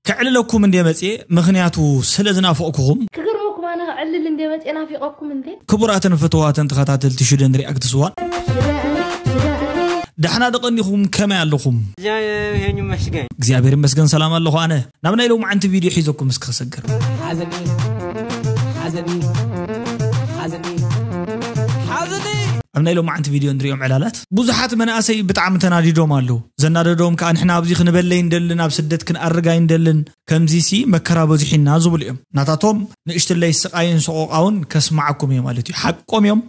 ከዕልለኩም እንዴ መጽየ ምኽንያቱ ስለ ዝናፈቕኩኹም። ክገርመኩም ኣነ ከዕልል እንዴ መጽየ ናፊቐኩም እንዴ። ክቡራትን ፍትዋትን ተኸታተልቲ ሽደን ሪኣክትስ ዋን። ዳሕና ዶ ቀኒኹም ከመይ ኣለኹም። እግዚኣብሔር ይመስገን። እግዚኣብሔር ይመስገን ሰላም ኣለኹ ኣነ። ናብ ናይ ሎምዓንቲ ቪድዮ ሒዘኩም እስኪ ክሰግር። ሓዘኒ ሓዘኒ ሓዘኒ ሓዘኒ። ኣብ ናይ ሎምዓንቲ ቪድዮ እንርእዮም ዕላላት። ብዙሓት መናእሰይ ብጣዕሚ ተናዲዶም ኣለዉ። ዘናደዶም ከኣ ንሕና ኣብዚ ክንበሊ ኣይንደልን፣ ኣብ ስደት ክንኣርግ ኣይንደልን፣ ከምዚሲ መከራ በዚሑና ዝብሉ እዮም። ናታቶም ንእሽትለይ ስቓይን ሰቖቓውን ከስምዓኩም እየ ማለት እዩ። ሓቆም እዮም፣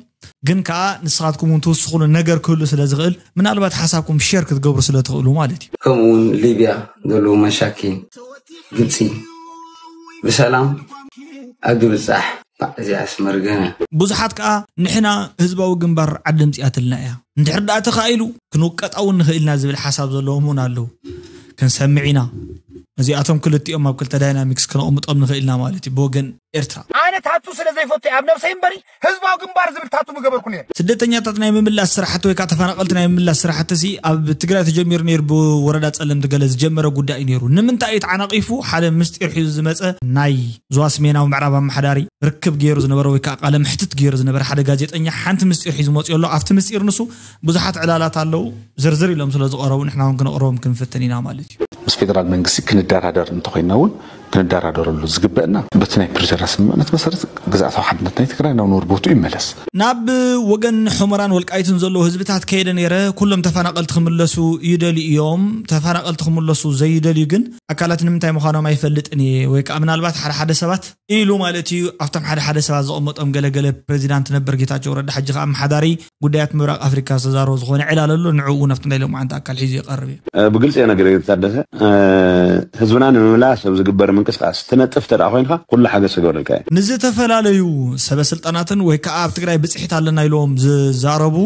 ግን ከኣ ንስኻትኩም እውን ትውስኹሉ ነገር ክህሉ ስለ ዝኽእል ምናልባት ሓሳብኩም ሼር ክትገብሩ ስለ ትኽእሉ ማለት እዩ። ከምኡ እውን ሊብያ ዘለዉ መሻኪን ግብጺ ብሰላም ኣብ ድብጻሕ ባዕ እዚኣስ መርገመ። ብዙሓት ከኣ ንሕና ህዝባዊ ግንባር ዓዲ ኣምጺኣትልና እያ፣ እንድሕር ደኣ ተኻኢሉ ክንውቀጣ እውን ንኽእል ኢና ዝብል ሓሳብ ዘለዎም እውን ኣለዉ። ክንሰምዕ ኢና። እዚኣቶም ክልቲኦም ኣብ ክልተ ዳይናሚክስ ክነቕምጦም ንኽእል ኢና ማለት እዩ፣ ብወገን ኤርትራ። ኣነ ታቱ ስለ ዘይፈቱ እየ ኣብ ነብሰይ እምበሪ ህዝባዊ ግንባር ዝብል ታቱ ምገበርኩ ነይረ። ስደተኛታት ናይ ምምላስ ስራሕቲ ወይ ከኣ ተፈናቐልቲ ናይ ምምላስ ስራሕቲ'ሲ ኣብ ትግራይ ተጀሚሩ ነይሩ ብወረዳ ጸለምቲ ገለ ዝጀመረ ጉዳይ እዩ ነይሩ። ንምንታይ እዩ ተዓናቒፉ ሓደ ምስጢር ሒዙ ዝመጸ ናይ ዞባ ስሜናዊ ምዕራብ ኣመሓዳሪ ርክብ ገይሩ ዝነበረ ወይ ከኣ ቃለ መሕትት ገይሩ ዝነበረ ሓደ ጋዜጠኛ ሓንቲ ምስጢር ሒዙ መጺኡ ኣሎ ኣብቲ ምስጢር ንሱ ብዙሓት ዕላላት ኣለዉ ዝርዝር ኢሎም ስለ ዝቐረቡ ንሕና እውን ክነቕርቦም ክንፍትን ኢና ማለት እዩ። ምስ ፌደራል መንግስቲ ክንደራደር እንተኾይንና እውን ክንደራደረሉ ዝግበእና በቲ ናይ ፕሪቶርያ ስምምዕነት መሰረት ግዝኣታዊ ሓድነት ናይ ትግራይ ናብ ነበር ቦትኡ ይመለስ። ናብ ወገን ሑመራን ወልቃይትን ዘለዉ ህዝብታት ከይደ ነይረ ኩሎም ተፈናቐልቲ ክምለሱ ይደልዩ እዮም ተፈናቐልቲ ክምለሱ ዘይደልዩ ግን ኣካላት ንምንታይ ምዃኖም ኣይፈልጥን እየ ወይ ከዓ ምናልባት ሓደ ሓደ ሰባት ኢሉ ማለት እዩ ኣብቶም ሓደ ሓደ ሰባት ዘቐመጦም ገለ ገለ ፕረዚዳንት ነበር ጌታቸው ረዳ ሕጂ ከዓ ኣመሓዳሪ ጉዳያት ምብራቕ ኣፍሪካ ዝተዛረቦ ዝኾነ ዕላል ኣሎ ንዕኡ እውን ኣብቲ ናይ ሎምዓንቲ ኣካል ሒዙ ይቐርብ እየ። ብግልፂ እየ ነግሬ ታደሰ ህዝብና ንምምላስ ኣብ ዝግበር ምንቅስቃስ ትነጥፍ እንተድኣ ኮይንካ ኩሉ ሓገዝ ክገብረልካ እየ። ንዝተፈላለዩ ሰበስልጣናትን ወይ ከዓ ኣብ ትግራይ ብፅሒት ኣለና ኢሎም ዝዛረቡ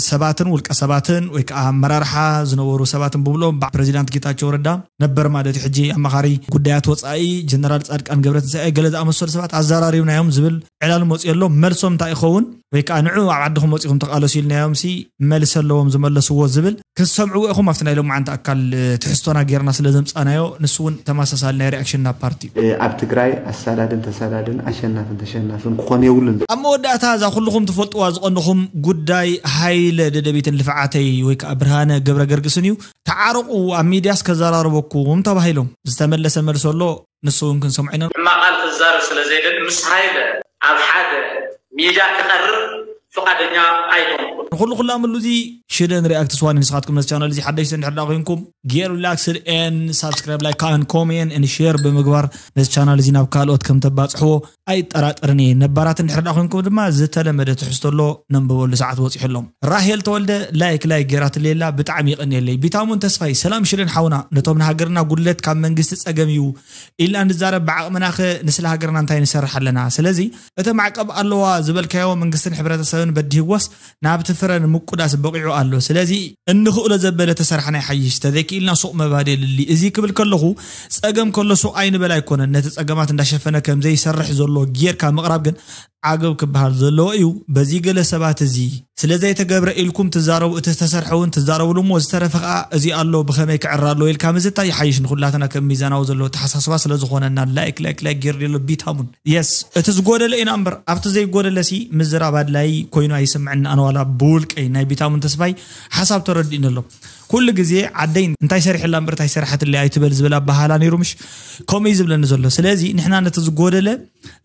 ሰባትን ውልቀ ሰባትን ወይ ከዓ ኣመራርሓ ዝነበሩ ሰባትን ብብሎም ብ ፕረዚዳንት ጌታቸው ረዳ ነበር ማለት እዩ ሕጂ ኣማኻሪ ጉዳያት ወፃኢ ጀነራል ፃድቃን ገብረትንሳኤ ገለ ዝኣመሰሉ ሰባት ኣዘራሪብናዮም ዝብል ዕላል መፂኡ ኣሎ መልሶም እንታይ ይኸውን ወይ ከዓ ንዑ ኣብ ዓድኹም ወፂኹም ተቓለሱ ኢልናዮም ሲ መልሲ ኣለዎም ዝመለስዎ ዝብል ክትሰምዕዎ ኢኹም ኣብቲ ናይ ሎማዓንቲ ኣካል ትሕዝቶና ጌርና ስለ ዘምፃእናዮ ንሱ እውን ተመሳሳሊ ናይ ሪኣክሽንና ፓርቲ እዩ። ኣብ ትግራይ ኣሳዳድን ተሳዳድን ኣሸናፍን ተሸናፍን ክኾን የብሉን። ኣብ መወዳእታ እዛ ኩሉኹም ትፈልጥዋ ዝቐንኹም ጉዳይ ሃይለ ደደቢትን ልፍዓተይ ወይ ከኣ ብርሃነ ገብረገርግስን እዩ። ተዓረቑ ኣብ ሚድያስ ከዘራርበኩም ተባሂሎም። ዝተመለሰ መልሲ ኣሎ ንሱ ውን ክንሰምዖ ኢና። ሕማቕ ቃል ክዛረብ ስለ ዘይደሊ ምስ ሃይለ ኣብ ሓደ ሚድያ ክቐርብ ፍቃደኛ ኣይኮንኩን። ንኹሉ ክላምሉ እዚ ሽደ ንሪኣክት ስዋኒ ንስኻትኩም ነዚ ቻነል እዚ ሓደሽቲ እንድሕር ደኣ ኮይንኩም ጌር ሪላክስድ ኤን ሳብስክራይብ ላይክ ከኣ ን ኮሜን ኤን ሼር ብምግባር ነዚ ቻናል እዚ ናብ ካልኦት ከም ተባጽሕዎ ኣይጠራጠርን እየ ነባራት እንድሕር ደኣ ኮይንኩም ድማ ዝተለመደ ትሕዝቶ ኣሎ ነንብበሉ ሰዓት በጺሑ ኣሎ ራሄል ተወልደ ላይክ ላይክ ጌራትለይ ኣላ ብጣዕሚ የቀንየለይ ቢታሙን ተስፋይ ሰላም ሽደን ሓውና ነቶም ንሃገርና ጉድለት ካብ መንግስቲ ጸገም እዩ ኢልና ንዛረብ ብዓቅምናኸ ንስለ ሃገርና እንታይ ንሰርሕ ኣለና ስለዚ እቲ ማዕቀብ ኣለዋ ዝበልካዮ መንግስትን ሕብረተሰብን በዲህዎስ ናብቲ ፍረ ንምቁዳስ በቂዑ ኣሎ ስለዚ እንክእሎ ዘበለ ተሰራሕና ይሓይሽ ተዘይኪኢልና ሱቅ ምባል የድሊ እዚ ክብል ከለኩ ጸገም ከሎ ሱቅ ኣይንበል ኣይኮነን ነቲ ጸገማት እንዳሸፈነ ከምዘይሰርሕ ዘሎ ጌርካ ምቅራብ ግን ዓገብ ክባሃል ዘለዎ እዩ በዚ ገለ ሰባት እዚ ስለዘይተገብረ ኢልኩም ትዛረቡ እቲ ዝተሰርሐ ውን ትዛረብሉ እሞ ዝተረፈ ከኣ እዚ ኣሎ ብከመይ ክዕረ ኣለዎ ኢልካ ምዝታይ ይሓይሽ ንኩላትና ከም ሚዛናዊ ዘለዎ ኣተሓሳስባ ስለዝኮነና ላይክ ላይክ ላይክ ጌርልየሎ ቢታሙን የስ እቲ ዝጎደለ ኢና እምበር ኣብቲ ዘይጎደለ ሲ ምዝራብ ኣድላዪ ኮይኑ ኣይስምዕን ኣነ ዋላ ብውልቀይ ናይ ቢታሙን ተስፋይ ሓሳብ ተረዲኡኒ ኣሎ ኩሉ ግዜ ዓደይ እንታይ ሰሪሐላ እምበር እንታይ ሰራሕትለ ኣይትበል ዝብል ኣበሃላ ነይሩ ምሽ ከምኡ እዩ ዝብለኒ ዘሎ ስለዚ ንሕና ነቲ ዝጎደለ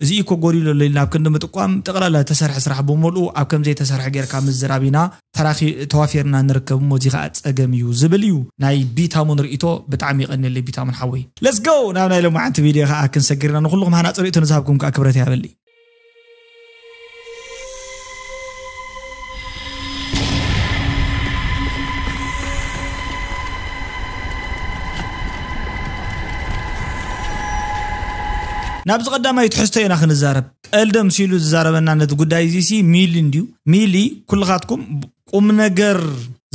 እዚ እኮ ጎዲሉ ኣሎ ኢልና ኣብ ክንዲ ምጥቋም ጠቕላላ ዝተሰርሐ ስራሕ ብምልኡ ኣብ ከምዘይተሰርሐ ጌርካ ምዝራብ ኢና ተራኺ ተዋፊርና ንርከብ እሞ እዚ ከኣ ጸገም እዩ ዝብል እዩ ናይ ቢታሙን ርእይቶ ብጣዕሚ የቐንየለይ ቢታሙን ሓወይ Let's go ናብ ናይ ሎማዓንቲ ቪድዮ ከኣ ክንሰግር ኢና ንኹልኹም ሃናጺ ርእይቶ ንዝሃብኩም ከኣ ክብረት ይሃበለይ ናብዚ ቀዳማይ ትሕዝቶይ ኢና ክንዛረብ ቀልዲ ኣምሲሉ ዝዛረበና ነቲ ጉዳይ እዚ ሲ ሚሊ እንድዩ ሚሊ ኩልኻትኩም ቁም ነገር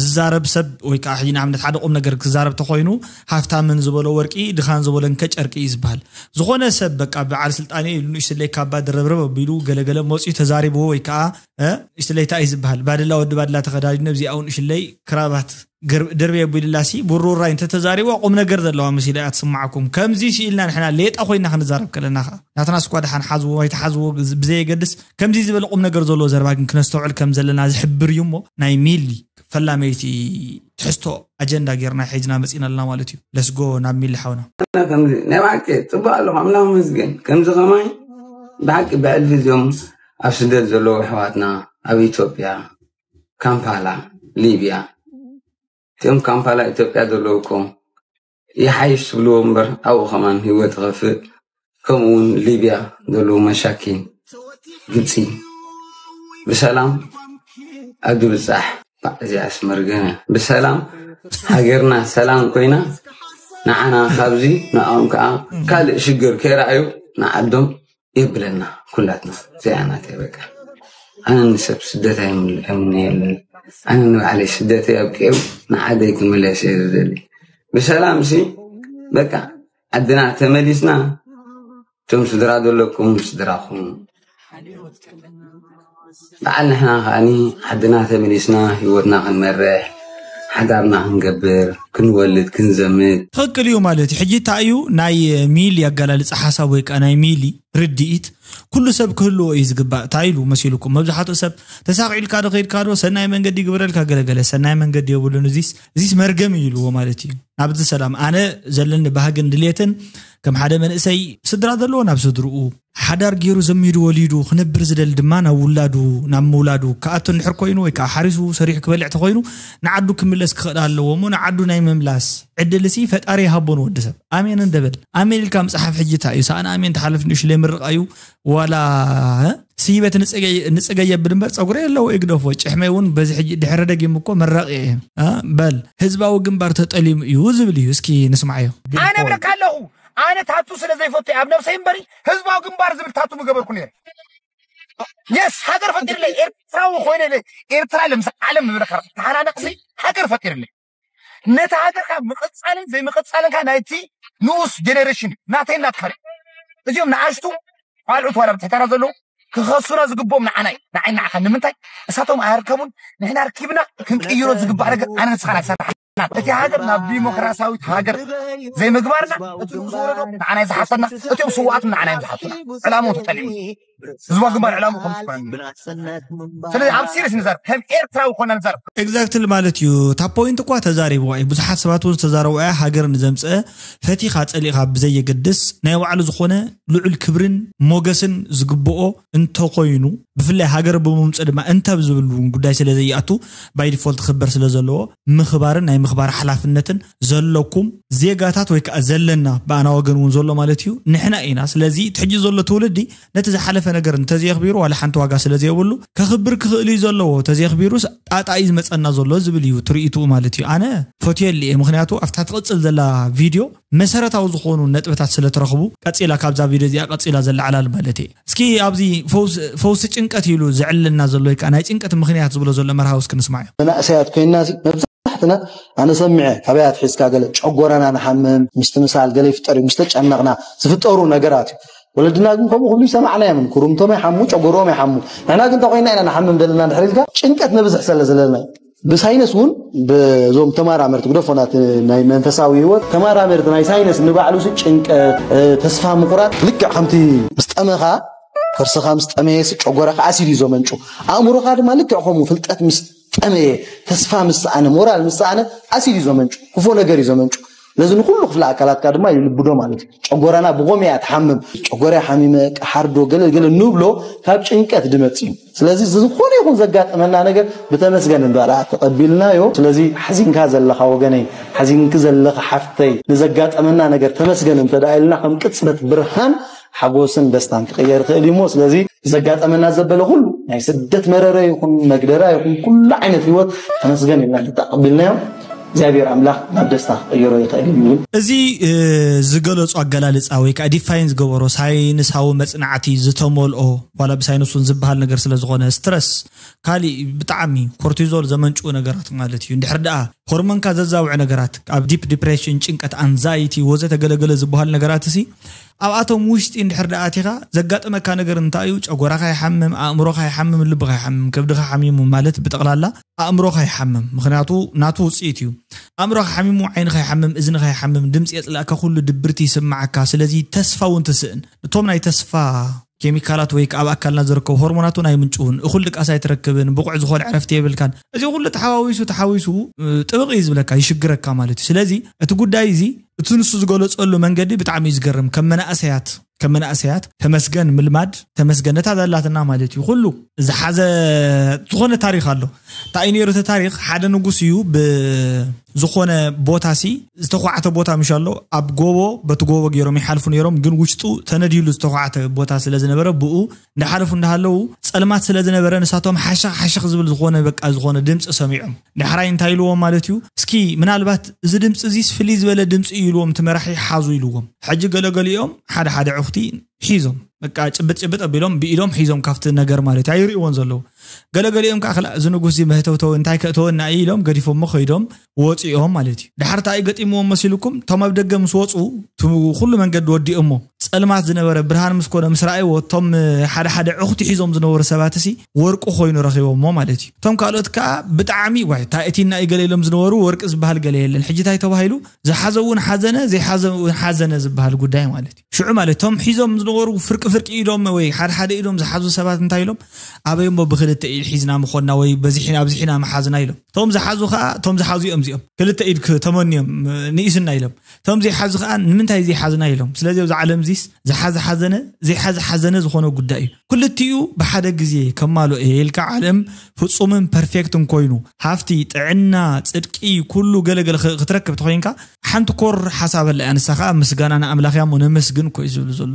ዝዛረብ ሰብ ወይ ከዓ ሕጂ ንኣብነት ሓደ ቁም ነገር ክዛረብ ተኮይኑ ሃፍታምን ዝበሎ ወርቂ ድኻን ዝበሎ እንከ ጨርቂ እዩ ዝበሃል ዝኾነ ሰብ በቃ በዓል ስልጣን እዩ ንእሽ ስለይ ካባ ድረብረብ ኣቢሉ ገለገለ መፅኡ ተዛሪብዎ ወይ ከዓ ንእሽ ስለይ እንታይ እዩ ዝበሃል ባደላ ወዲ ባድላ ተኸዳዲኑ ኣብዚኣ ንእሽ ስለይ ክራባት ድርብይ ኣቢሉላ ሲ ብሩራይ እንተ ተዛሪባ ቁም ነገር ዘለዋ መሲላ እያ ትስማዓኩም ከምዚ ሲ ኢልና ንሕና ሌጣ ኮይና ክንዛረብ ከለና ከኣ ናትናስ እኳ ድሓን ሓዝዎ ኣይትሓዝዎ ብዘየገድስ ከምዚ ዝበለ ቁም ነገር ዘለዎ ዘረባ ግን ክነስተውዕል ከም ዘለና ዝሕብር እዩ እሞ ናይ ሚሊ ፈላመይቲ ትሕዝቶ ኣጀንዳ ጌርና ሒዝና መጺና ኣለና ማለት እዩ ለስጎ ናብ ሚሊ ሓውና ኣላ ከምዚ ናይ ብሓቂ ጽቡቅ ኣለኹ ኣምላኽ መስገን ከምዚ ከማይ ብሓቂ ብዕልፊ እዚኦም ኣብ ስደት ዘለዉ ኣሕዋትና ኣብ ኢትዮጵያ ካምፓላ ሊብያ እቶም ካምፓላ ኢትዮጵያ ዘለዉ እኮ ይሓይሽ ትብልዎ እምበር ኣብኡ ከማን ህይወት ይኸፍእ ከምኡ እውን ሊብያ ዘለዉ መሻኪን ግብፂ ብሰላም ኣብ ድብፃሕ እዚኣስ መርገነ ብሰላም ሃገርና ሰላም ኮይና ንዓና ካብዚ ንኦም ከዓ ካልእ ሽግር ከይረኣዩ ንዓዶም የብለና ኩላትና እዚኣ ናተይ በቃ ኣነ ንሰብ ስደት ኣይምነየሉን ኣነ ንባዕለይ ስደተይ ኣብቂዑ ንዓደይ ክምለስ እየ ዝደሊ ብሰላም ሲ በቃ ዓድና ተመሊስና እቶም ስድራ ዘለኩም ስድራኹም በዓል ንሕና ከኣ ዓድና ተመሊስና ህይወትና ክንመርሕ ሓዳርና ክንገብር ክንወልድ ክንዘምት። ትኽክል እዩ ማለት እዩ ሕጂ ታይ እዩ ናይ ሚሊ ኣገላልፃ ሓሳብ ወይ ከዓ ናይ ሚሊ ርድኢት ኩሉ ሰብ ክህልዎ እዩ ዝግባእ ታይ ኢሉ መሲሉኩም መብዛሕትኡ ሰብ ተሳኺዕልካ ዶ ከይድካ ዶ ሰናይ መንገዲ ይግበረልካ ገለ ገለ ሰናይ መንገዲ የብሉን እዚስ እዚስ መርገም እዩ ኢልዎ ማለት እዩ ናብዚ ሰላም ኣነ ዘለኒ ባህግን ድሌትን ከም ሓደ መንእሰይ ስድራ ዘለዎ ናብ ስድርኡ ሓዳር ገይሩ ዘሚዱ ወሊዱ ክነብር ዝደሊ ድማ ናብ ውላዱ ናብ ምውላዱ ክኣቶ እንድሕር ኮይኑ ወይ ከዓ ሓሪሱ ሰሪሑ ክበልዕ ተኮይኑ ንዓዱ ክምለስ ክኽእል ኣለዎ እሞ ንዓዱ ናይ ምምላስ ዕድል እሲ ፈጣሪ ይሃቦ ንወዲ ሰብ ኣሜን እንደበል ኣሜን ኢልካ ምፅሓፍ ሕጂ እንታይ እዩ ሰኣን ኣሜን ተሓልፍ ንእሽለይ ምርቃ እዩ ዋላ ስይበት ንፅገይ የብል እምበር ፀጉረ ኣለዎ ይግደፎ ጭሕመይ እውን በዚ ሕጂ ድሕረ ደጊም እኮ መራቂ እየ በል ህዝባዊ ግንባር ተጠሊሙ እዩ ዝብል እዩ እስኪ ንስማዓዮ ኣነ እብለካ ኣለኹ ኣነ ታቱ ስለ ዘይፈቱ ኣብ ነብሰይ እምበሪ ህዝባዊ ግንባር ዝብል ታቱ ምገበርኩ ነይረ የስ ሃገር ፈጢርለይ ኤርትራዊ ኮይነ ኤርትራ ለምስ ዓለም ምብለካ ተሓናነቕሲ ሃገር ፈጢርለይ ነቲ ሃገርካ ምቕፃልን ዘይምቕፃልንካ ናይቲ ንኡስ ጀኔሬሽን ናተይ ናትካ እዚኦም ንኣሽቱ ቋልዑት ዋላ ብትሕተና ዘለዉ ክኸሱና ዝግብኦም ንዓና እዩ ንዓይ ንዓኻ ንምንታይ እሳቶም ኣያርከቡን ንሕና ኣርኪብና ክንቅይሮ ዝግባእ ነገር ኣነ ንስኻን ኣይሰራሕ እቲ ሃገር ናብ ዲሞክራሲያዊት ሃገር ዘይምግባርና እቲ ንጉስ ወረዶ ንዓና ዝሓተና እቲኦም ስዋኣት ንዓና እዮም ዝሓቱና ዕላምኡ ተጠሊሙ ህዝባዊ ግንባር ዕላምኡ ከም ስለዚ ኣብ ሲሪስ ንዛርብ ከም ኤርትራዊ ኮና ንዛርብ ኤግዛክትሊ ማለት እዩ እታ ፖይንት እኳ ተዛሪብዋ እዩ ብዙሓት ሰባት እውን ዝተዛረቡ እያ ሃገር ንዘምፀአ ፈቲኻ ፀሊእኻ ብዘየገድስ ናይ ባዕሉ ዝኾነ ልዑል ክብርን ሞገስን ዝግብኦ እንተኾይኑ ብፍላይ ሃገር ብምምፅኡ ድማ እንተብ ዝብል እውን ጉዳይ ስለ ዘይኣቱ ባይ ዲፎልት ክኽበር ስለ ዘለዎ ምኽባርን ናይ ምኽባር ሓላፍነትን ዘለኩም ዜጋታት ወይ ከዓ ዘለና ብኣና ወገን እውን ዘሎ ማለት እዩ ንሕና ኢና ስለዚ እቲ ሕጂ ዘሎ ትውልዲ ነቲ ዝሓለፈ ነገር እንተዘየኽቢሩ ዋላ ሓንቲ ዋጋ ስለ ዘየብሉ ከኽብር ክኽእል እዩ ዘለዎ እንተዘየኽቢሩስ ጣጣ እዩ ዝመፀና ዘሎ ዝብል እዩ እቲ ርኢትኡ ማለት እዩ ኣነ ፈትየሉ እየ ምኽንያቱ ኣብታ ትቕፅል ዘላ ቪድዮ መሰረታዊ ዝኾኑ ነጥብታት ስለ ትረኽቡ ቀጺላ ካብዛ ቪድዮ እዚኣ ቀጺላ ዘላ ዕላል ማለት እየ። እስኪ ኣብዚ ፈውሲ ፈውሲ ጭንቀት ኢሉ ዘዕልለና ዘሎ ወይ ከኣ ናይ ጭንቀት ምኽንያት ዝብሎ ዘሎ መርሃዊ እስኪ ንስማዮ። መናእሰያት ኮይንና'ሲ መብዛሕትና ኣነ ሰሚዐ ካበይ ኣትሒዝካ ገለ ጨጎራና ንሓምም፣ ምስትምሳል ገለ ይፍጠር እዩ ምስ ተጨነቕና ዝፍጠሩ ነገራት እዩ። ወለድና ግን ከምኡ ክብሉ ይሰማዕናዮም ኩርምቶም ይሓሙ ጨጎርኦም ይሓሙ ንሕና ግን እንታይ ኮይንና ኢና ንሓምም ዘለና እንድሕር ኢልካ ጭንቀት ነብዝሕ ሰለ ዘለና እዩ። ብሳይነስ እውን ብዞም ተማራመርቲ ግደፎናት ናይ መንፈሳዊ ህይወት ተማራመርቲ ናይ ሳይነስ ንባዕሉ ሲ ጭንቀት ተስፋ ምቑራጥ ልክዕ ከምቲ ምስ ጠመኻ ከርስኻ ምስ ጠመየ ሲ ጨጎራኻ ኣሲድ እዩ ዘመንጩ ኣእምሮኻ ድማ ልክዕ ከምኡ ፍልጠት ምስ ጠመየ ተስፋ ምስ ሰኣነ ሞራል ምስ ሰኣነ ኣሲድ እዩ ዘመንጩ ክፉእ ነገር እዩ ዘመንጩ ነዚ ንኩሉ ክፍለ ኣካላትካ ድማ ይልብዶ ማለት እዩ ጨጎራና ብቆም እያ ትሓምም ጨጎራ ሓሚመ ቀሓርዶ ገለ ገለ ንብሎ ካብ ጭንቀት ድመፅ እዩ ስለዚ ዝኾነ ይኹን ዘጋጠመና ነገር ብተመስገን ንበላ ተቐቢልናዮ ስለዚ ሓዚንካ ዘለኻ ወገነይ ሓዚንኪ ዘለኺ ሓፍተይ ንዘጋጠመና ነገር ተመስገን እንተ ኢልና ከም ቅፅበት ብርሃን ሓጎስን ደስታን ክቕየር ይኽእል እዩሞ ስለዚ ዘጋጠመና ዘበለ ኩሉ ናይ ስደት መረረ ይኹን መግደራ ይኹን ኩሉ ዓይነት ህይወት ተመስገን ኢልና ተተቐቢልናዮ እግዚኣብሔር ኣምላኽ ናብ ደስታ ክቕይሮ ይኽእል እዩ ይብል። እዚ ዝገለጾ ኣገላልጻ ወይ ከኣ ዲፋይን ዝገበሮ ሳይንሳዊ መጽናዕቲ ዝተመልኦ ዋላ ብሳይንስ ውን ዝበሃል ነገር ስለ ዝኾነ ስትረስ ካሊእ ብጣዕሚ ኮርቲዞል ዘመንጭዉ ነገራት ማለት እዩ እንድሕር ደኣ ሆርሞንካ ዘዛውዕ ነገራት ኣብ ዲፕ ዲፕሬሽን ጭንቀት ኣንዛይቲ ወዘተ ገለገለ ዝበሃሉ ነገራት እሲ ኣብኣቶም ውሽጢ እንድሕር ድኣ ኣቲኻ ዘጋጥመካ ነገር እንታይ እዩ? ጨጎራኻ ይሓምም፣ ኣእምሮኻ ይሓምም፣ ልብኻ ይሓምም፣ ከብድኻ ሓሚሙ ማለት ብጠቕላላ ኣእምሮኻ ይሓምም ምኽንያቱ ናቱ ውጽኢት እዩ። ኣእምሮኻ ሓሚሙ ዓይንኻ ይሓምም፣ እዝንኻ ይሓምም፣ ድምጺ የጽልኣካ ኩሉ ድብርቲ ይስምዓካ ስለዚ ተስፋ እውን ትስእን። እቶም ናይ ተስፋ። ኬሚካላት ወይ ኣብ ኣካልና ዝርከቡ ሆርሞናት እውን ኣይምንጭዉን፣ እኹል ድቃስ ኣይትረክብን፣ ብቑዕ ዝኾነ ዕረፍቲ የብልካን፣ እዚ ኩሉ ተሓዋዊሱ ተሓዊሱ ጥብቕ እዩ ዝብለካ፣ ይሽግረካ ማለት እዩ፣ ስለዚ እቲ ጉዳይ እዚ እቲ ንሱ ዝገለፀሉ መንገዲ ብጣዕሚ እዩ ዝገርም፣ ከም መናእሰያት ከም መናእሰያት ተመስገን ምልማድ፣ ተመስገን ነታ ዘላትና ማለት እዩ፣ ኩሉ ዝሓዘ ዝኾነ ታሪኽ ኣሎ፣ ታይ እዩ ነይሩ እቲ ታሪኽ፣ ሓደ ንጉስ እዩ ብ ዝኾነ ቦታ ሲ ዝተዃዕተ ቦታ ምሽ ኣሎ ኣብ ጎቦ በቲ ጎቦ ገይሮም ይሓልፉ ነይሮም ግን ውሽጡ ተነዲሉ ዝተዃዕተ ቦታ ስለ ዝነበረ ብኡ እንዳሓለፉ እንዳሃለዉ ፀልማት ስለ ዝነበረ ንሳቶም ሓሸኽ ሓሸኽ ዝብል ዝኾነ በቃ ዝኾነ ድምፂ ሰሚዖም ዳሕራይ እንታይ ኢልዎም ማለት እዩ እስኪ ምናልባት እዚ ድምፂ እዚስ ፍልይ ዝበለ ድምፂ እዩ ኢልዎም እቲ መራሒ ሓዙ ኢልዎም ሕጂ ገለገሊኦም ሓደ ሓደ ዕኹቲ ሒዞም በቃ ጭብጥ ጭብጥ ኣቢሎም ብኢዶም ሒዞም ካብቲ ነገር ማለት እዩ ኣይርእዎን ዘለዉ ገለገሊኦም ከዓ እዚ ንጉስ እዚ መህተውተው እንታይ ከእተወና እዩ ኢሎም ገዲፎሞ ከይዶም ወጺኦም ማለት እዩ። ደሓር ታይ እዩ ገጢምዎም መሲሉኩም እቶም ኣብ ደገ ምስ ወጹ እቲ ኩሉ መንገዲ ወዲኦሞ ጸልማት ዝነበረ ብርሃን ምስ ኮነ ምስ ረኣይዎ እቶም ሓደ ሓደ ዕኹቲ ሒዞም ዝነበሩ ሰባትሲ ወርቂ ኮይኑ ረኺቦሞ ማለት እዩ። እቶም ካልኦት ከኣ ብጣዕሚ ዋይ ታይ እቲና እዩ ገለ ኢሎም ዝነበሩ ወርቂ ዝበሃል ገለ የለን ሕጂ ታይ ተባሂሉ ዝሓዘ ውን ሓዘነ ዘይሓዘ ውን ሓዘነ ዝበሃል ጉዳይ ማለት እዩ። ሽዑ ማለት እቶም ሒዞም ዝነበሩ ፍርቂ ፍርቂ ኢዶም ወይ ሓደ ሓደ ኢዶም ዝሓዙ ሰባት እንታይ ኢሎም ኣበይ እሞ ብኽልተ ኢድ ሒዝና ምኾንና ወይ በዚሕና ኣብዚሕና ምሓዝና ኢሎም። ቶም ዝሓዙ ከዓ ቶም ዝሓዙ እዮም እዚኦም ክልተ ኢድ ተመንዮም ንኢስና ኢሎም ቶም ዘይሓዙ ከዓ ንምንታይ ዘይሓዝና ኢሎም ስለዚ ኣብዚ ዓለም እዚስ ዝሓዘ ሓዘነ ዘይሓዘ ሓዘነ ዝኾነ ጉዳይ እዩ ክልቲኡ ብሓደ ግዜ ከማሎ እየ ኢልካ ዓለም ፍፁምን ፐርፌክትን ኮይኑ ሃፍቲ ጥዕና ፅድቂ ኩሉ ገለገለ ክትረክብ ተኮይንካ ሓንቲ ኮር ሓሳብ ኣላ እያ ንሳ ከዓ ምስጋና ንኣምላኽ እያ እሞ ነመስግን እኮ እዩ ዝብሉ ዘሎ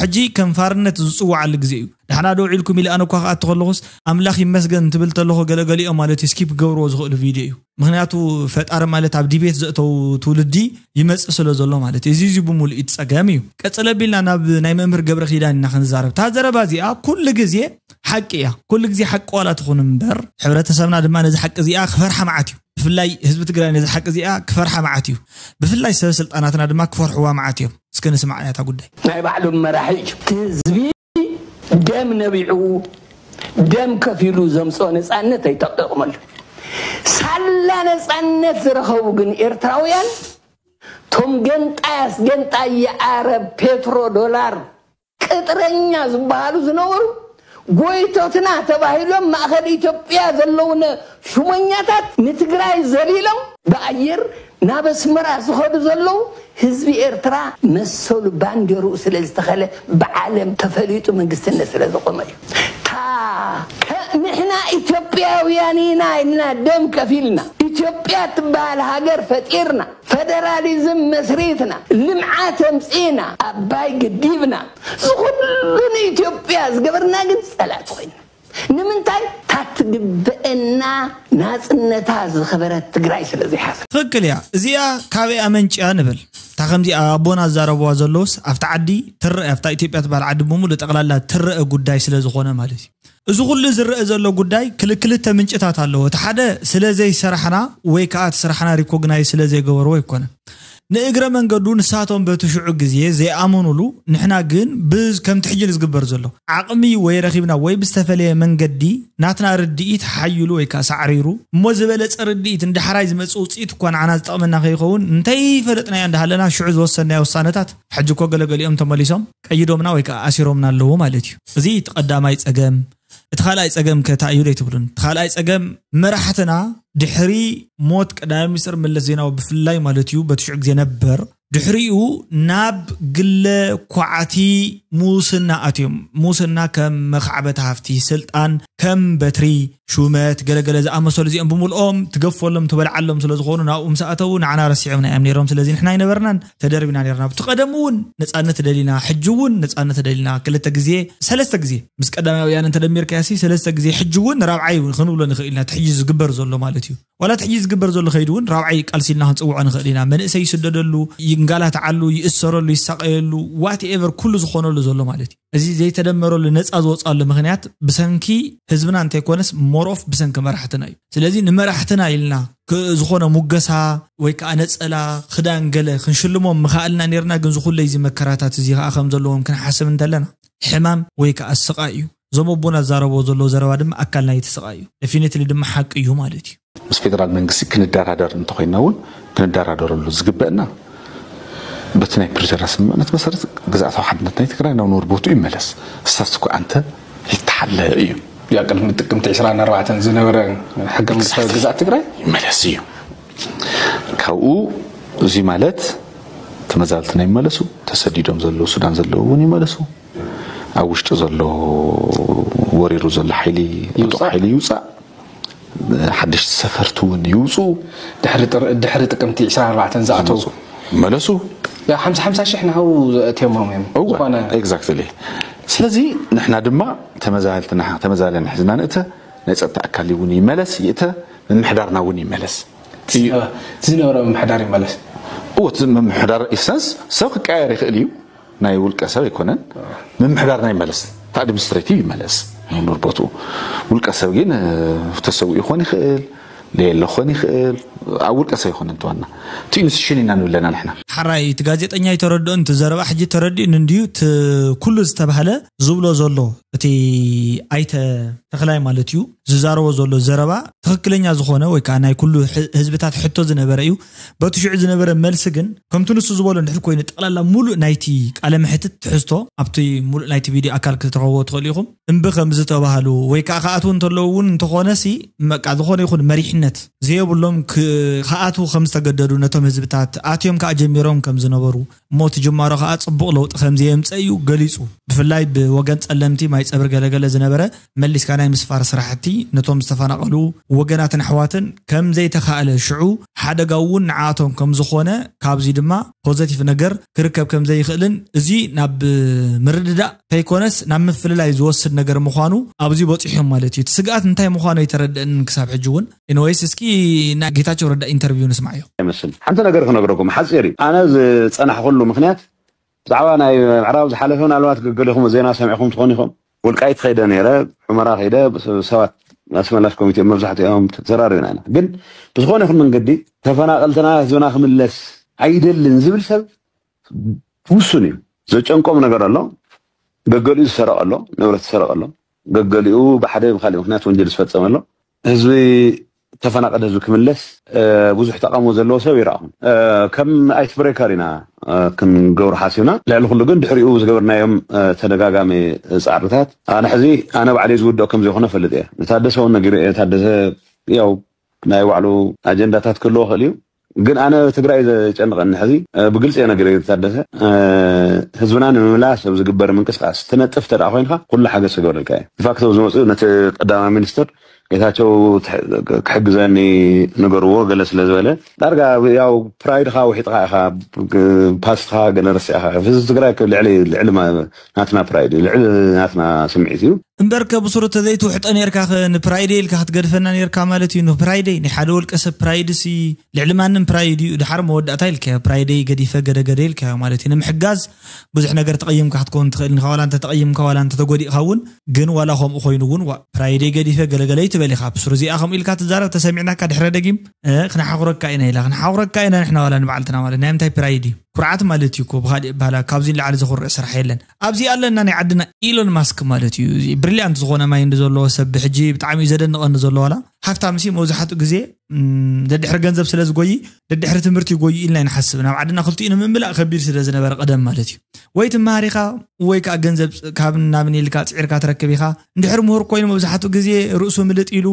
ሕጂ ከም ፋርነት ዝፅዋዓሉ ግዜ እዩ ዳሕና ደው ኢልኩም ኢለ ኣነ እኳ ክኣቱ ከለኹስ ኣምላኽ ይመስገን እንትብል ተለኹ ገለ ገሊኦም ማለት እዩ ስኪፕ ክገብርዎ ዝኽእሉ ቪድዮ እዩ ምኽንያቱ ፈጣሪ ማለት ኣብ ዲቤት ዘእተው ትውልዲ ይመጽእ ስለ ዘሎ ማለት እዩ እዚ እዚ ብምሉእ እቲ ጸገም እዩ ቀጽለ ቢልና ናብ ናይ መምህር ገብረ ኪዳን ኢና ክንዛረብ እታ ዘረባ እዚኣ ኩሉ ግዜ ሓቂ እያ ኩሉ ግዜ ሓቂ ዋላ ትኹን እምበር ሕብረተሰብና ድማ ነዚ ሓቂ እዚኣ ክፈርሓ መዓት እዩ ብፍላይ ህዝቢ ትግራይ ነዚ ሓቂ እዚኣ ክፈርሓ መዓት እዩ ብፍላይ ሰበስልጣናትና ድማ ክፈርሕዋ መዓት እዮም እስከ ንስማዕ እያታ ጉዳይ ናይ ባዕሉ መራሒ እዩ ህዝቢ ደም ነቢዑ ደም ከፊሉ ዘምፅኦ ነፃነት ኣይጠቀቕመሉ ሳላ ነፃነት ዝረኸቡ ግን ኤርትራውያን ቶም ገንጣይ ኣስገንጣይ የዓረብ ፔትሮ ዶላር ቅጥረኛ ዝበሃሉ ዝነበሩ ጎይቶትና ተባሂሎም ማእኸል ኢትዮጵያ ዘለውነ ሹመኛታት ንትግራይ ዘሊሎም ብኣየር ናብ ኣስመራ ዝኸዱ ዘለዉ ህዝቢ ኤርትራ መሰሉ ባንዴርኡ ስለዝተኸለ ብዓለም ተፈሊጡ መንግስትነት ስለዘቆመ እዩ ታከ ንሕና ኢትዮጵያውያን ኢና ኢልና ደም ከፊልና ኢትዮጵያ ትበሃል ሃገር ፈጢርና ፈደራሊዝም መስሪትና ልምዓት ኣምፂእና ኣባይ ገዲብና ዝኹሉ ንኢትዮጵያ ዝገበርና ግን ፀላእቲ ኮይና ንምንታይ ታትግበእና ናጽነታ ዝክበረት ትግራይ ስለ ዘይሓዘት። ትክክል እያ እዚኣ ካበይ ኣመንጭያ ንበል እታ ከምዚ ኣቦና ዝዛረብዋ ዘለውስ ኣብቲ ዓዲ ትረኣ ኣብታ ኢትዮጵያ ትባሃል ዓዲ ብሙሉእ ጠቅላላ ትረኣ ጉዳይ ስለ ዝኮነ ማለት እዩ እዚ ኩሉ ዝረኣ ዘሎ ጉዳይ ክል ክልተ ምንጭታት ኣለዎ እቲ ሓደ ስለ ዘይሰራሕና ወይ ከኣ እቲ ስራሕና ሪኮግናይዝ ስለ ዘይገበርዎ ኣይኮነን ንእግረ መንገዱ ንሳቶም በቲ ሽዑ ግዜ ዘይኣመኑሉ ንሕና ግን ብ ከምቲ ሕጂ ንዝግበር ዘሎ ዓቕሚ ወይ ረኺብና ወይ ብዝተፈለየ መንገዲ ናትና ርድኢት ሓይሉ ወይ ከኣ ሳዕሪሩ እሞ ዝበለጸ ርድኢት ንዳሕራይ ዝመጽእ ውጽኢት እኳ ንዓና ዝጠቕመና ከይኸውን እንተይፈለጥናዮ እንዳሃለና ሽዑ ዝወሰድናዮ ውሳነታት ሕጂ እኮ ገለገሊኦም ተመሊሶም ቀይዶምና ወይ ከኣ ኣሲሮምና ኣለዉ ማለት እዩ። እዚ እቲ ቀዳማይ ጸገም እቲ ካልኣይ ፀገም ከ ታይ እዩ ዘይትብሉን? እቲ ካልኣይ ፀገም መራሕትና ድሕሪ ሞት ቀዳማይ ሚኒስትር መለስ ዜናዊ ብፍላይ ማለት እዩ በቲ ሽዑ ግዜ ነበር ድሕሪኡ ናብ ግለ ኳዕቲ ሙስና ኣትዮም ሙስና ከም መኻዕበቲ ሃፍቲ ስልጣን ከም በትሪ ሹመት ገለገለ ዝኣመሰሉ እዚኦም ብምልኦም ትገፈሎም ትበልዓሎም ስለ ዝኾኑ ናብኡ ምስ ኣተዉ ንዓና ረሲዖምና እዮም ነይሮም ስለዚ ንሕና ኣይነበርናን ተደርብና ነርና ኣብቲ ቀደም እውን ነፃነት ደሊና ሕጂ እውን ነፃነት ደሊና ክልተ ግዜ ሰለስተ ግዜ ምስ ቀዳማይ ወያነ እንተደሚርካያሲ ሰለስተ ግዜ ሕጂ እውን ራብዓይ እውን ክንብሎ ንኽእል ኢና እቲ ሕጂ ዝግበር ዘሎ ማለት እዩ ዋላ እቲ ሕጂ ዝግበር ዘሎ ከይዱ እውን ራብዓይ ቃልሲ ኢልና ክንፅውዖ ንኽእል ኢና መንእሰይ ይስደደሉ ይንጋላትዓሉ ይእሰረሉ ይሳቀየሉ ዋት ኤቨር ኩሉ ዝኾነሉ ዘሎ ማለት እዩ እዚ ዘይተደመረሉ ነፃ ዝወፅኣሉ ምኽንያት ብሰንኪ ህዝብና እንተይኮነስ ሞሮፍ ብሰንኪ መራሕትና እዩ። ስለዚ ንመራሕትና ኢልና ዝኾነ ሙገሳ ወይ ከዓ ነፀላ ክዳን ገለ ክንሽልሞም ምኸኣልና ነይርና ግን ዝኹለይ እዚ መከራታት እዚ ከዓ ከም ዘለዎም ክንሓስብ እንተለና ሕማም ወይ ከዓ ስቓይ እዩ። እዞም ኣቦና ዝዛረብዎ ዘለዉ ዘረባ ድማ ኣካል ናይቲ ስቓይ እዩ። ደፊኒትሊ ድማ ሓቂ እዩ ማለት እዩ። ምስ ፌደራል መንግስቲ ክንደራደር እንተኾይንና እውን ክንደራደረሉ ዝግበእና በቲ ናይ ፕሪቶርያ ስምምዕነት መሰረት ግዝኣታዊ ሓድነት ናይ ትግራይ ናብ ነበር ቦትኡ ይመለስ ስታትስኮ ኣንተ ይተሓለ እዩ ያ ቅድሚ ጥቅምቲ 24 ዝነበረ ሕገ መንግስታዊ ግዝኣት ትግራይ ይመለስ እዩ ካብኡ እዚ ማለት ተመዛበልትና ይመለሱ ተሰዲዶም ዘለዉ ሱዳን ዘለዉ እውን ይመለሱ ኣብ ውሽጢ ዘሎ ወሪሩ ዘሎ ሓይሊ ዕጡቕ ሓይሊ ይውፃእ፣ ሓደሽቲ ሰፈርቲ እውን ይውፅኡ፣ ድሕሪ ጥቅምቲ ዕስራን ኣርባዕተን ዝኣተው ዝመፁ ይመለሱ፣ ያው ሓምሳ ሓምሳ ሽሕ ንሃው ኣእትዮሞም እዮም እወ ዝኾነ ኤግዛክትሊ ስለዚ ንሕና ድማ ተመዛበልቲ ንሓ- ተመዛበልያን ሕዝና ንእተ ናይ ፀጥታ ኣካል እውን ይመለስ ይእተ ምምሕዳርና እውን ይመለስ እቲ ዝነበረ ምምሕዳር ይመለስ እወ እቲ ምምሕዳር ኢሰንስ ሰብ ክቀያየር ይኽእል እዩ ናይ ውልቀ ሰብ ኣይኮነን ምምሕዳር ናይ መለስ እቲ ኣድሚኒስትሬቲቭ ይመለስ ይኑር ቦትኡ ውልቀ ሰብ ግን ተሰዊኡ ክኾን ይኽእል ለየለ ክኾን ይኽእል ኣብ ውልቀ ሰብ ኣይኮነን ተዋና እቲ ኢንስቲቱሽን ኢና ንብለና ንሕና ሐራይ እቲ ጋዜጠኛ ኣይተረድኦን እቲ ዘረባ ሕጂ ተረዲኡኒ እንድዩ እቲ ኩሉ ዝተባህለ ዝብሎ ዘሎ እቲ ኣይተ ተኽላይ ማለት እዩ ዝዛረቦ ዘሎ ዘረባ ትኽክለኛ ዝኾነ ወይ ከኣ ናይ ኩሉ ህዝብታት ሕቶ ዝነበረ እዩ በቲ ሽዑ ዝነበረ መልሲ ግን ከምቲ ንሱ ዝበሎ እንድሕር ኮይኑ ጠቕላላ ሙሉእ ናይቲ ቃለ መሕትት ትሕዝቶ ኣብቲ ሙሉእ ናይቲ ቪድዮ ኣካል ክትረኽብዎ ትኽእሉ ኢኹም እምቢ ከምዝተባህሉ ወይ ከዓ ክኣትዉ እንተለዉ እውን እንተኾነሲ በቃ ዝኾነ ይኹን መሪሕነት ዘየብሎም ክኣትዉ ከምዝተገደዱ ነቶም ህዝብታት ኣትዮም ከዓ ጀሚሮም ከምዝነበሩ እሞ እቲ ጅማሮ ከኣ ጽቡቕ ለውጢ ከምዘየምጸ እዩ ገሊጹ። ብፍላይ ብወገን ጸለምቲ ማይጸብሪ ገለገለ ዝነበረ መሊስካ ናይ ምስፋር ስራሕቲ ነቶም ዝተፈናቐሉ ወገናትን ኣሕዋትን ከምዘይተኻእለ ሽዑ ሓደጋኡ እውን ንዓኣቶም ከምዝኾነ ካብዚ ድማ ፖዘቲቭ ነገር ክርከብ ከምዘይኽእልን እዚ ናብ ምርድዳእ ከይኮነስ ናብ ምፍልላይ ዝወስድ ነገር ምዃኑ ኣብዚ በጺሖም ማለት እዩ። እቲ ስግኣት እንታይ ምዃኑ ኣይተረደኣንን ክሳብ ሕጂ እውን። ኤንወይስ እስኪ ናይ ጌታቸው ረዳ ኢንተርቪው ንስማዕዮ። ኣይመስል ሓንቲ ነገር ክነግረኩም ሓፂር እዩ ኣነ ዝፀናሕኩሉ ምክንያት ብዛዕባ ናይ ምዕራብ ዝሓለፈ ምናልባት ገገሊኹም ዜና ሰሚዕኹም ትኾኑ ኢኹም ወልቃይት ከይደ ነይረ ሑመራ ከይደ ሰባት ኣስመላሽ ኮሚቴ መብዛሕትኦም ተዘራሪብና ኢና ግን ብዝኾነ ይኹን መንገዲ ተፈናቀልትና ህዝብና ክምለስ ኣይደልን ዝብል ሰብ ውሱን እዩ ዘጨንቆም ነገር ኣሎ ገገሊኡ ዝሰረቀ ኣሎ ንብረት ዝሰረቀ ኣሎ ገገሊኡ ብሓደ ብካሊእ ምክንያት ወንጀል ዝፈፀመ ኣሎ ህዝቢ ተፈናቀደ ህዝቢ ክምለስ ብዙሕ ተቃውሞ ዘለዎ ሰብ ይረኣኹም ከም ኣይስ ብሬከር ኢና ክንገብሩ ሓሲብና ልዕሊ ኩሉ ግን ድሕሪኡ ዝገበርናዮም ተደጋጋሚ ፃዕርታት ኣነ ሕዚ ኣነ ባዕለይ ዝውድኦ ከም ዘይኮነ ፈልጥ እየ ንታደሰ እውን ነጊሩ እየ ታደሰ ያው ናይ ባዕሉ ኣጀንዳታት ክህልዎ ክእል እዩ ግን ኣነ ትግራይ እዩ ዘጨንቀኒ ሕዚ ብግልፂ እየ ነጊረዮ ታደሰ ህዝብና ንምምላስ ኣብ ዝግበር ምንቅስቃስ ትነጥፍ ተደኣ ኮይንካ ኩሉ ሓገዝ ክገብረልካ እየ ድፋክቶ ዝመፅኡ ነቲ ቀዳማይ ሚኒስትር ጌታቸው ክሕግዘኒ ንገርዎ ገለ ስለ ዝበለ ዳርጋ ያው ፕራይድካ ውሒጥካ ኢካ ፓስትካ ገለ ረሲዕካ ህዝቢ ትግራይ ልዕሊ ልዕሊ ናትና ፕራይድ ልዕሊ ናትና ስምዒት እዩ። እምበርከ ብሱሩ ተዘይትውሕጦ ኔርካኸ ንፕራይደይ ኢልካ ክትገድፈና ኔርካ ማለት እዩ ንፕራይደይ ናይ ሓደ ወልቀ ሰብ ፕራይድሲ ልዕሊ ማንም ፕራይድ እዩ ድሓር መወዳእታ ኢልካዮ ፕራይደይ ገዲፈ ገደገደ ኢልካዮ ማለት እዩ ንምሕጋዝ ብዙሕ ነገር ተቐይምካ ክትከውን ትኽእል ኢኻ ዋላ እንተተቐይምካ ዋላ እንተተጎዲእኻ እውን ግን ዋላ ከምኡ ኮይኑ እውን ዋእ ፕራይደይ ገዲፈ ገለገለ ኣይትበል ኢኻ ብሱሩ እዚኣ ከምኡ ኢልካ ትዛረብ ተሰሚዕናካ ድሕረ ደጊም ክነሓኹረካ ኢና ኢላ ክንሓኹረካ ኢና ንሕና ዋላ ንባዕልትና ማለት ናይ ምንታይ ፕራይድ እዩ ኩርዓት ማለት እዩ እኮ ብካሊእ ኣበሃህላ ካብዚ ንላዕሊ ዘኹርዕ ስራሕ የለን ኣብዚ ኣለና ናይ ዓድና ኢሎን ማስክ ማለት እዩ እዚ ብሪልያንት ዝኾነ ማይንድ ዘለዎ ሰብ ብሕጂ ብጣዕሚ እዩ ዘደንቐኒ ዘሎ ዋላ ሃፍታምሲ መብዛሕትኡ ግዜ ደድሕሪ ገንዘብ ስለ ዝጎይ ደድሕሪ ትምህርቲ ይጎዩ ኢልና ይንሓስብ ናብ ዓድና ክልቲኡ ንምምላእ ከቢድ ስለ ዝነበረ ቀደም ማለት እዩ ወይ ትመሃር ኢኻ ወይ ከዓ ገንዘብ ካብ ናብን ኢልካ ፅዒርካ ትረክብ ኢኻ እንድሕር ምሁር ኮይኑ መብዛሕትኡ ግዜ ርእሱ ምልጥ ኢሉ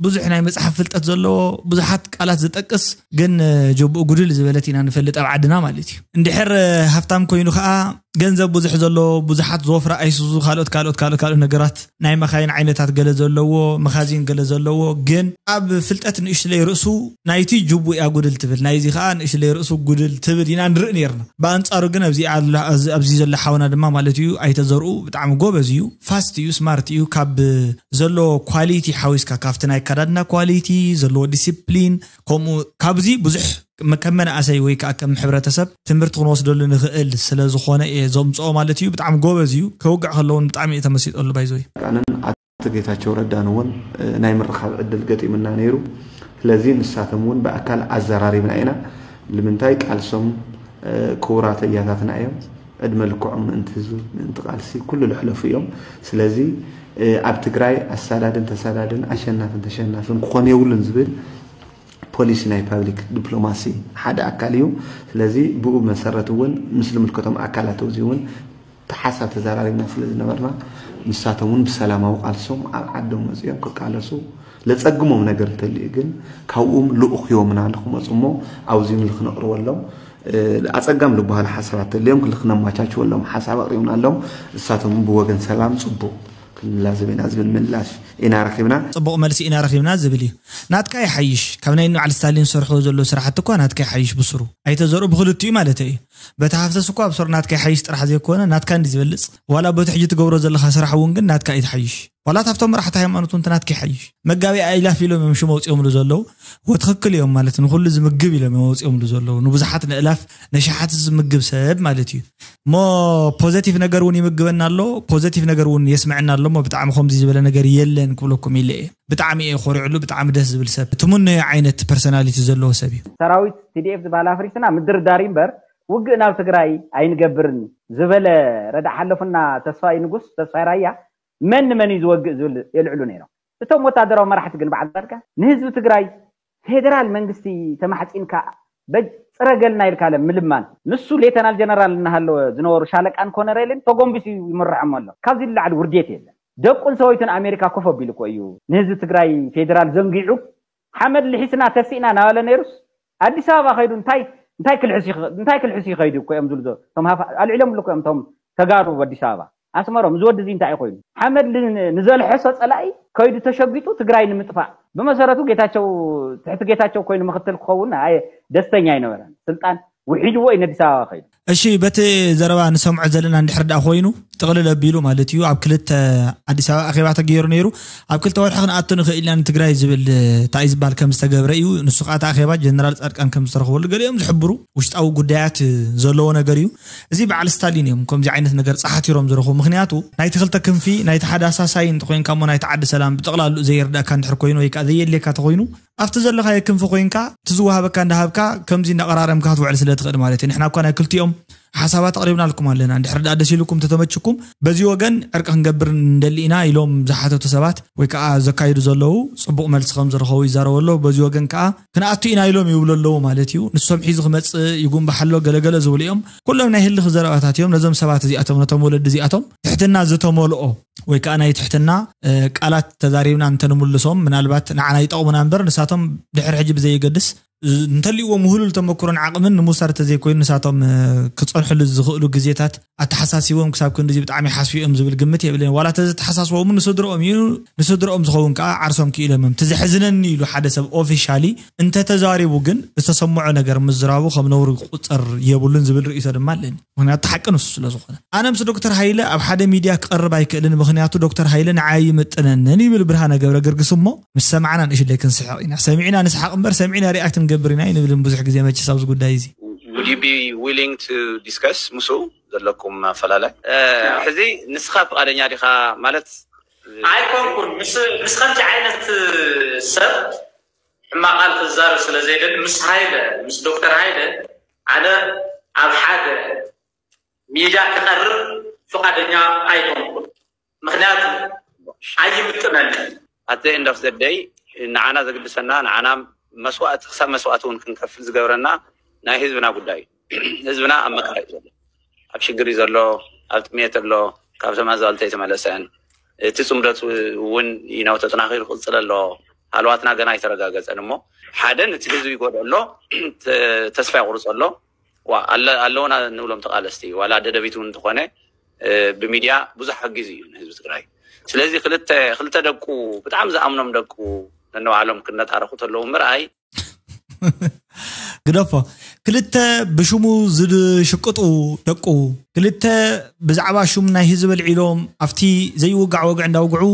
ብዙሕ ናይ መጽሓፍ ፍልጠት ዘለዎ ብዙሓት ቃላት ዝጠቅስ ግን ጀብኡ ጉድል ዝበለት ኢና ንፈልጥ ኣብ ዓድና ማለት እዩ እንድሕር ሃብታም ኮይኑ ከዓ ገንዘብ ብዙሕ ዘለዎ ብዙሓት ዝወፍራ ኣይሱዙ ካልኦት ካልኦት ካልኦት ካልኦት ነገራት ናይ መኻይን ዓይነታት ገለ ዘለዎ መኻዚን ገለ ዘለዎ ግን ኣብ ፍልጠት ንእሽለይ ርእሱ ናይቲ ጅቡ እያ ጉድል ትብል ናይዚ ከዓ ንእሽለይ ርእሱ ጉድል ትብል ኢና ንርኢ ነርና ብኣንጻሩ ግን ኣብዚ ዘሎ ሓውና ድማ ማለት እዩ ኣይተዘርኡ ብጣዕሚ ጎበዝ እዩ ፋስት እዩ ስማርት እዩ ካብ ዘለዎ ኳሊቲ ሓዊስካ ካብቲ ናይ ኣከዳድና ኳሊቲ ዘለዎ ዲሲፕሊን ከምኡ ካብዚ ብዙሕ ከም መናእሰይ ወይ ከዓ ከም ሕብረተሰብ ትምህርቲ ክንወስደሉ ንኽእል ስለ ዝኾነ እየ ዘምፅኦ ማለት እዩ ብጣዕሚ ጎበዝ እዩ ከውግዕ ከሎ እውን ብጣዕሚ እየ ተመሲጠሉ ባይዘወይ ኣነን ኣቶ ጌታቸው ረዳን እውን ናይ ምርኻብ ዕድል ገጢሙና ነይሩ ስለዚ ንሳቶም እውን ብኣካል ኣዘራሪብና ኢና ልምንታይ ቃልሶም ክቡራት ኣያታትና እዮም ዕድመ ልክዖም ምእንቲ ህዝቢ ምእንቲ ቃልሲ ኩሉ ለሕለፉ እዮም ስለዚ ኣብ ትግራይ ኣሳዳድን ተሳዳድን ኣሸናፍን ተሸናፍን ክኾን የብሉን ዝብል ፖሊሲ ናይ ፓብሊክ ዲፕሎማሲ ሓደ ኣካል እዩ ስለዚ ብኡ መሰረት እውን ምስ ዝምልከቶም ኣካላት እዚ እውን ተሓሳብ ተዘራሪብና ስለ ዝነበርና ንሳቶም እውን ብሰላማዊ ቃልሶም ኣብ ዓዶም መፅኦም ክቃለሱ ለፀግሞም ነገር እንተልዩ ግን ካብኡም ልኡኽ ሂቦምና ንክመፁ እሞ ኣብዚ ንክነቕርበሎም ኣፀጋሚ ልበሃሉ ሓሳባት ተልዮም ክል ክነማቻችወሎም ሓሳብ ኣቕሪብናሎም እሳቶም ብወገን ሰላም ፅቡቕ ክንላዘብ ኢና ዝብል ምላሽ ኢና ረኺብና። ፅቡቕ መልሲ ኢና ረኺብና ዝብል እዩ። ናትካ ይሓይሽ ካብ ናይ እንበዓል ስታሊን ዝሰርሕዎ ዘለዉ ስራሕቲ እኳ ናትካ ይሓይሽ ብሱሩ። ኣይተ ዘርኡ ብኽልቲኡ ማለተይ እዩ። በቲ ሃፍተስ እኳ ብሱሩ ናትካ ይሓይሽ ጥራሕ ዘይኮነ ናትካ እንድዩ ዝበልፅ ዋላ በቲ ሕጂ ትገብሮ ዘለኻ ስራሕ እውን ግን ናትካ እዩ ትሓይሽ። ዋላ ካብቶም መራሕቲ ሃይማኖት እውን ትናትኪ ይሓይሽ መጋቢ ኣይላፍ ኢሎም እዮም ሽም ኣውፅኦምሉ ዘለዉ ወትክክል እዮም ማለት ንኩሉ ዝምግብ ኢሎም እዮም ኣውፅኦምሉ ዘለዉ ንብዙሓት ንእላፍ ነሸሓት ዝምግብ ሰብ ማለት እዩ እሞ ፖዘቲቭ ነገር እውን ይምግበና ኣሎ ፖዘቲቭ ነገር እውን የስምዐና ኣሎ እሞ ብጣዕሚ ከምዚ ዝበለ ነገር የለን ክብለኩም ኢለ እየ ብጣዕሚ እየ ኮሪዕሉ ብጣዕሚ ደስ ዝብል ሰብ ትምነዮ ዓይነት ፐርሶናሊቲ ዘለዎ ሰብ እዩ ሰራዊት ቲዲኤፍ ዝበሃል ኣፍሪስና ምድርዳር እዩ እምበር ውግእ ናብ ትግራይ ኣይንገብርን ዝበለ ረዳ ሓለፉና ተስፋይ ንጉስ ተስፋይ ራያ መን ንመን እዩ ዝወግእ ዝብል የልዕሉ ነይሮም። እቶም ወታደራዊ መራሕቲ ግን በዓል ፃድቃን ንህዝቢ ትግራይ ፌደራል መንግስቲ ተማሕፂንካ በጅ ፅረገልና ኢልካለ ምልማን፣ ንሱ ሌተናል ጀነራል እናሃለወ ዝነበሩ ሻለቃን ኮነሬልን ተጎምቢሱ እዩ ይምርሖም ኣሎ፣ ካብዚ ንላዕሊ ውርዴት የለን። ደቁን ሰበይቱን ኣሜሪካ ኮፍ ኣቢሉ እኮ እዩ ንህዝቢ ትግራይ ፌደራል ዘንጊዑ ሓመድ ልሒስና ተሲእና ናበለ ነይሩስ ኣዲስ ኣበባ ከይዱ እንታይ እንታይ ክልሕስ እንታይ ክልሕስ እዩ ከይዱ እኮ እዮም ዝብሉ ዘሎ እቶም ሃፋ ኣልዒሎምሉ እኮ እዮም እቶም ተጋሩ ኣዲስ ኣበባ ኣስመሮም እዚ ወዲ እዚ እንታይ እዩ ኮይኑ ሓመድ ንዘልሐሶ ፀላኢ ከይዱ ተሸጊጡ ትግራይ ንምጥፋእ ብመሰረቱ ጌታቸው ትሕቲ ጌታቸው ኮይኑ ምክትል ክኸውን ደስተኛ ኣይነበረን ስልጣን ውሒድዎ እዩ ነዲስ ኣበባ ከይዱ። እሺ በቲ ዘረባ ንሰምዖ ዘለና እንድሕር ድኣ ኮይኑ ጥቅልል ኣቢሉ ማለት እዩ ኣብ ክልተ ኣዲስ ኣበባ ኣኼባ ተገይሩ ነይሩ ኣብ ክልተ ወርሒ ክንኣቱ ንኽእል ኢና ንትግራይ ዝብል እንታይ እዩ ዝበሃል ከም ዝተገብረ እዩ ንሱ ከዓ እቲ ኣኼባ ጀነራል ፃድቃን ከም ዝተረኽበሉ ገሊኦም ዝሕብሩ ውሽጣዊ ጉዳያት ዘለዎ ነገር እዩ እዚ በዓል ስታሊን እዮም ከምዚ ዓይነት ነገር ፀሓቲሮም ዝረኽቡ ምክንያቱ ናይቲ ክልተ ክንፊ ናይቲ ሓደ ኣሳሳይ እንተኮይንካ እሞ ናይቲ ዓዲ ሰላም ብጠቅላልኡ ዘይርድኣካ እንድሕር ኮይኑ ወይ ከዓ ዘየድልየካ ተኮይኑ ኣብቲ ዘለኻዮ ክንፊ ኮይንካ እቲ ዝወሃበካ እንዳሃብካ ከምዚ እንዳቐራረምካ ክትውዕል ስለ ትኽእል ማለት እዩ። ንሕና እኳ ናይ ክልቲኦም ሓሳባት ኣቕሪብናልኩም ኣለና። እንድሕሪ ድኣ ደስ ኢሉኩም ተተመችኩም በዚ ወገን ዕርቂ ክንገብር ንደሊ ኢና ኢሎም ዝሓተቱ ሰባት ወይ ከኣ ዘካይዱ ዘለዉ ጽቡቕ መልሲ ከም ዝረኸቡ ይዛረቡ ኣለዉ። በዚ ወገን ከኣ ክንኣቱ ኢና ኢሎም ይብሉ ኣለዉ ማለት እዩ። ንሶም ሒዙ ክመጽእ ይጉምባሕ ኣሎ ገለ ገለ ዝብሉ እዮም። ኩሎም ናይ ህልኽ ዘረባታት እዮም። ነዞም ሰባት እዚኣቶም ነቶም ወለዲ እዚኣቶም ትሕትና ዝተመልኦ ወይ ከዓ ናይ ትሕትና ቃላት ተዛሪብና እንተንምልሶም ምናልባት ንዓና ይጠቕሙና እምበር ንሳቶም ድሕሪ ሕጂ ብዘየገድስ እንተልዎም ውህሉል ተመክሮን ዓቕምን ንምውሳድ ተዘይኮይኑ ንሳቶም ክፀንሕሉ ዝኽእሉ ግዜታት ኣተሓሳሲቦም ክሳብ ክንዲ እዚ ብጣዕሚ ሓስቡ እዮም ዝብል ግምት የብልን ዋላ ተዘተሓሳስቦም ንስድረኦም እዩ ንስድረኦም ዝኸውን ከዓ ዓርሶም ክኢሎም እዮም ትዘሕዝነኒ ኢሉ ሓደ ሰብ ኦፊሻሊ እንተተዛሪቡ ግን ዝተሰምዖ ነገር ምዝራቡ ከም ነውሪ ክቁፀር የብሉን ዝብል ርእይቶ ድማ ኣለኒ ምክንያቱ እቲ ሓቂ ንሱ ስለ ዝኾነ። ኣነ ምስ ዶክተር ሃይለ ኣብ ሓደ ሚድያ ክቐርብ ኣይክእልን ምክንያቱ ዶክተር ሃይለ ንዓይ ኣይምጥነንን ይብል ብርሃነ ገብረግርግስ እሞ ምስ ሰማዕና ንእሽለይ ክንስሕቕ ኢና ሰሚዕና ንስሓቕ እምበር ሰሚዕና ሪኣክት ንገብር ኢና ኣይንብልን ብዙሕ ግዜ መቸስ ኣብዚ ጉዳይ እዚ። Would you be willing to discuss ምስኡ ዘለኩም ኣፈላላይ? ሕዚ ንስኻ ፍቓደኛ ዲኻ ማለት? ኣይኮንኩን ምስ ከምዚ ዓይነት ሰብ ሕማቅ ቃል ክዛረብ ስለ ዘይደሊ ምስ ሃይለ ምስ ዶክተር ሃይለ ኣነ ኣብ ሓደ ሚዳ ክቀርብ ፍቃደኛ ኣይኮንኩን ምክንያቱ ኣይምጥነንን። ኣት ዘ ኤንድ ኦፍ ዘ ደይ ንዓና ዘግድሰና ንዓና መስዋእቲ ክሳብ መስዋእቲ ውን ክንከፍል ዝገብረና ናይ ህዝብና ጉዳይ እዩ። ህዝብና ኣብ መከራ እዩ ዘሎ ኣብ ሽግር እዩ ዘሎ ኣብ ጥሜት ኣሎ ካብቶም ኣዛልቶ ኣይተመለሰን እቲ ፅምደት እውን ይነው ተጠናኺሩ ክቅፅል ኣሎ ሃለዋትና ገና ኣይተረጋገፀን እሞ ሓደ ነቲ ህዝቢ ይጎድኦ ኣሎ ተስፋ የቁርፆ ኣሎ ዋ ኣለ- ኣለውና ንብሎም ተቃለስቲ ዋላ ደደቢት እውን እንተኾነ እ፣ ብሚድያ ብዙሕ ሓጊዙ እዩ ንህዝቢ ትግራይ ስለዚ ክልተ ክልተ ደቁ ብጣዕሚ ዝኣምኖም ደቁ ነንባዕሎም ክነታረኹ ተለዉ ምርኣይ ግደፎ ክልተ ብሽሙ ዝሽቅጡ ደቁ ክልተ ብዛዕባ ሹም ናይ ህዝቢ ኣልዒሎም ኣብቲ ዘይውጋዕ ወግዒ እንዳውግዑ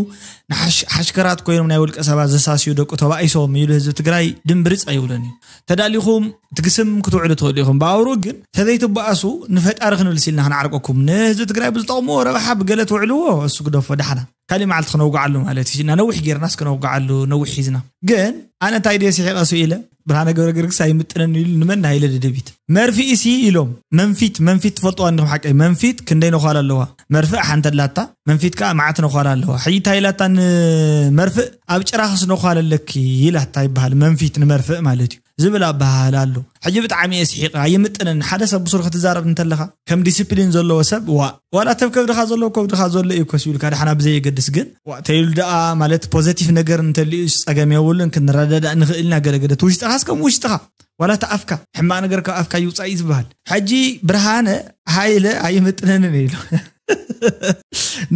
ሓሽከራት ኮይኖም ናይ ውልቀ ሰባት ዘሳስዩ ደቁ ተባኢሶም ኢሉ ህዝቢ ትግራይ ድምብርፅ ኣይብሎን እዩ ተዳሊኹም ትግስም ክትውዕሉ ትኽእሉ ኢኹም ብኣውሩ ግን ተዘይትበኣሱ ንፈጣሪ ክንብልስ ኢልና ክንዓርቀኩም ንህዝቢ ትግራይ ብዝጠቕምዎ ረብሓ ብገለ ትውዕልዎ እሱ ግደፎ ዳሕና ካሊእ መዓልቲ ክነውግዓሉ ማለት እዩ እና ነዊሕ ጌርናስ ክነውግዓሉ ነዊሕ ሒዝና ግን ኣነ እንታይ ድየ ስሒቐ ሱ ኢለ ብርሃነ ገብረ ገርግስ ኣይምጥነን ኢሉ ንመን ናይለ ደደቢት መርፍኢ ሲ ኢሎም መንፊት መንፊት ትፈልጥዋ እንዲኹም ሓቀይ መንፊት ክንደይ ነዃል ኣለዋ መርፍእ ሓንቲ ኣላታ መንፊት ከዓ መዓት ነዃል ኣለዋ ሕጂ እንታይ ኢላታ ንመርፍእ ኣብ ጭራኽስ ነዃል ኣለኪ ኢላታ ይበሃል መንፊት ንመርፍእ ማለት እዩ ዝብል ኣበሃህላ ኣሎ ሕጂ ብጣዕሚ እየ ስሒቀ ኣይምጥንን ሓደ ሰብ ብሱሩ ክትዛረብ እንተለካ ከም ዲሲፕሊን ዘለዎ ሰብ ዋእ ዋላ እተብ ከብድካ ዘሎ ኣብ ከብድካ ዘሎ እዩ ኮስ ኢሉካ ዳሕና ብዘየገድስ ግን ዋእ ተይሉ ዳኣ ማለት ፖዘቲቭ ነገር እንተልዩስ ጸገም የብሉን ክንረዳዳእ ንክእል ኢና ገለ ገለ እቲ ውሽጥካስ ከም ውሽጥካ ዋላ እቲ ኣፍካ ሕማቅ ነገር ካብ ኣፍካ ይውጻእ እዩ ዝበሃል ሕጂ ብርሃነ ሃይለ ኣይምጥነንን እዩ ኢሉ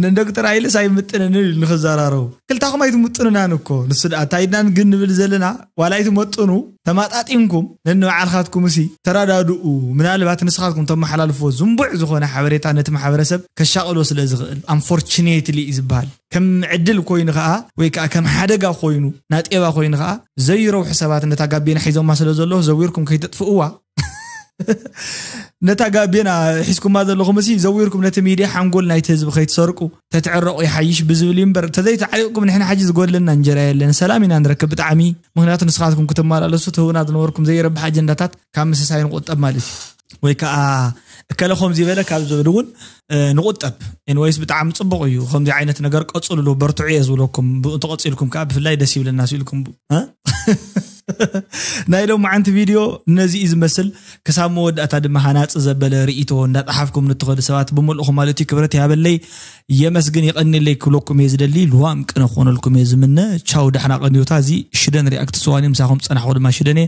ንዶክተር ኣይልስ ኣይምጥንን እዩ ንክዘራረቡ ክልታኹም ኣይትምጥኑናን እኮ ንሱ ድኣ እንታይ ኢድና ግን ንብል ዘለና ዋላ ኣይትመጥኑ ተማጣጢንኩም ነንባዕልካትኩም እሲ ተረዳድኡ ምናልባት ንስኻትኩም ተመሓላልፎ ዝንቡዕ ዝኾነ ሓበሬታ ነቲ ማሕበረሰብ ከሻቕሎ ስለ ዝኽእል ኣንፎርችኔትሊ እዩ ዝበሃል ከም ዕድል ኮይኑ ከዓ ወይ ከዓ ከም ሓደጋ ኮይኑ ናጤባ ኮይኑ ከዓ ዘይረብሑ ሰባት ነታ ጋቢና ሒዞማ ስለ ዘለዉ ዘዊርኩም ከይተጥፍእዋ ነታ ጋቤና ሒዝኩማ ዘለኹም ሲ ዘዊርኩም ነቲ ሚድያ ሓንጎል ናይቲ ህዝቢ ከይትሰርቁ ተትዕረቑ ይሓይሽ ብዝብል እዩ እምበር ተዘይተዓሪቕኩም ንሕና ሓጂ ዝጎድለና እንጀራ የለን ሰላም ኢና ንረክብ ብጣዕሚ ምክንያቱ ንስኻትኩም ክትመላለሱ ትህቡና ዝነበርኩም ዘይረብሕ ኣጀንዳታት ካብ ምስሳይ ንቑጠብ ማለት እዩ ወይ ከዓ እከለ ከምዚ በለ ካብ ዝብል እውን ንቁጠብ ኤንወይስ ብጣዕሚ ፅቡቅ እዩ ከምዚ ዓይነት ነገር ቀፅልሉ በርትዑ እየ ዝብለኩም ተቐፂልኩም ከዓ ብፍላይ ደስ ይብለና ስኢልኩም ናይ ሎም መዓንቲ ቪድዮ ነዚ እዩ ዝመስል ክሳብ መወዳእታ ድማ ሃናፂ ዘበለ ርእቶ እንዳጠሓፍኩም ንትኸዱ ሰባት ብምልእኹ ማለት እዩ ክብረት ያበለይ የመስግን ይቐኒለይ ክብለኩም እየ ዝደሊ ልዋም ቅነ ክኾነልኩም እየ ዝምነ ቻው ዳሕና ቀንዮታ እዚ ሽደን ሪኣክት ሰዋን ምሳኹም ፀናሕኩ ድማ ሽደን እየ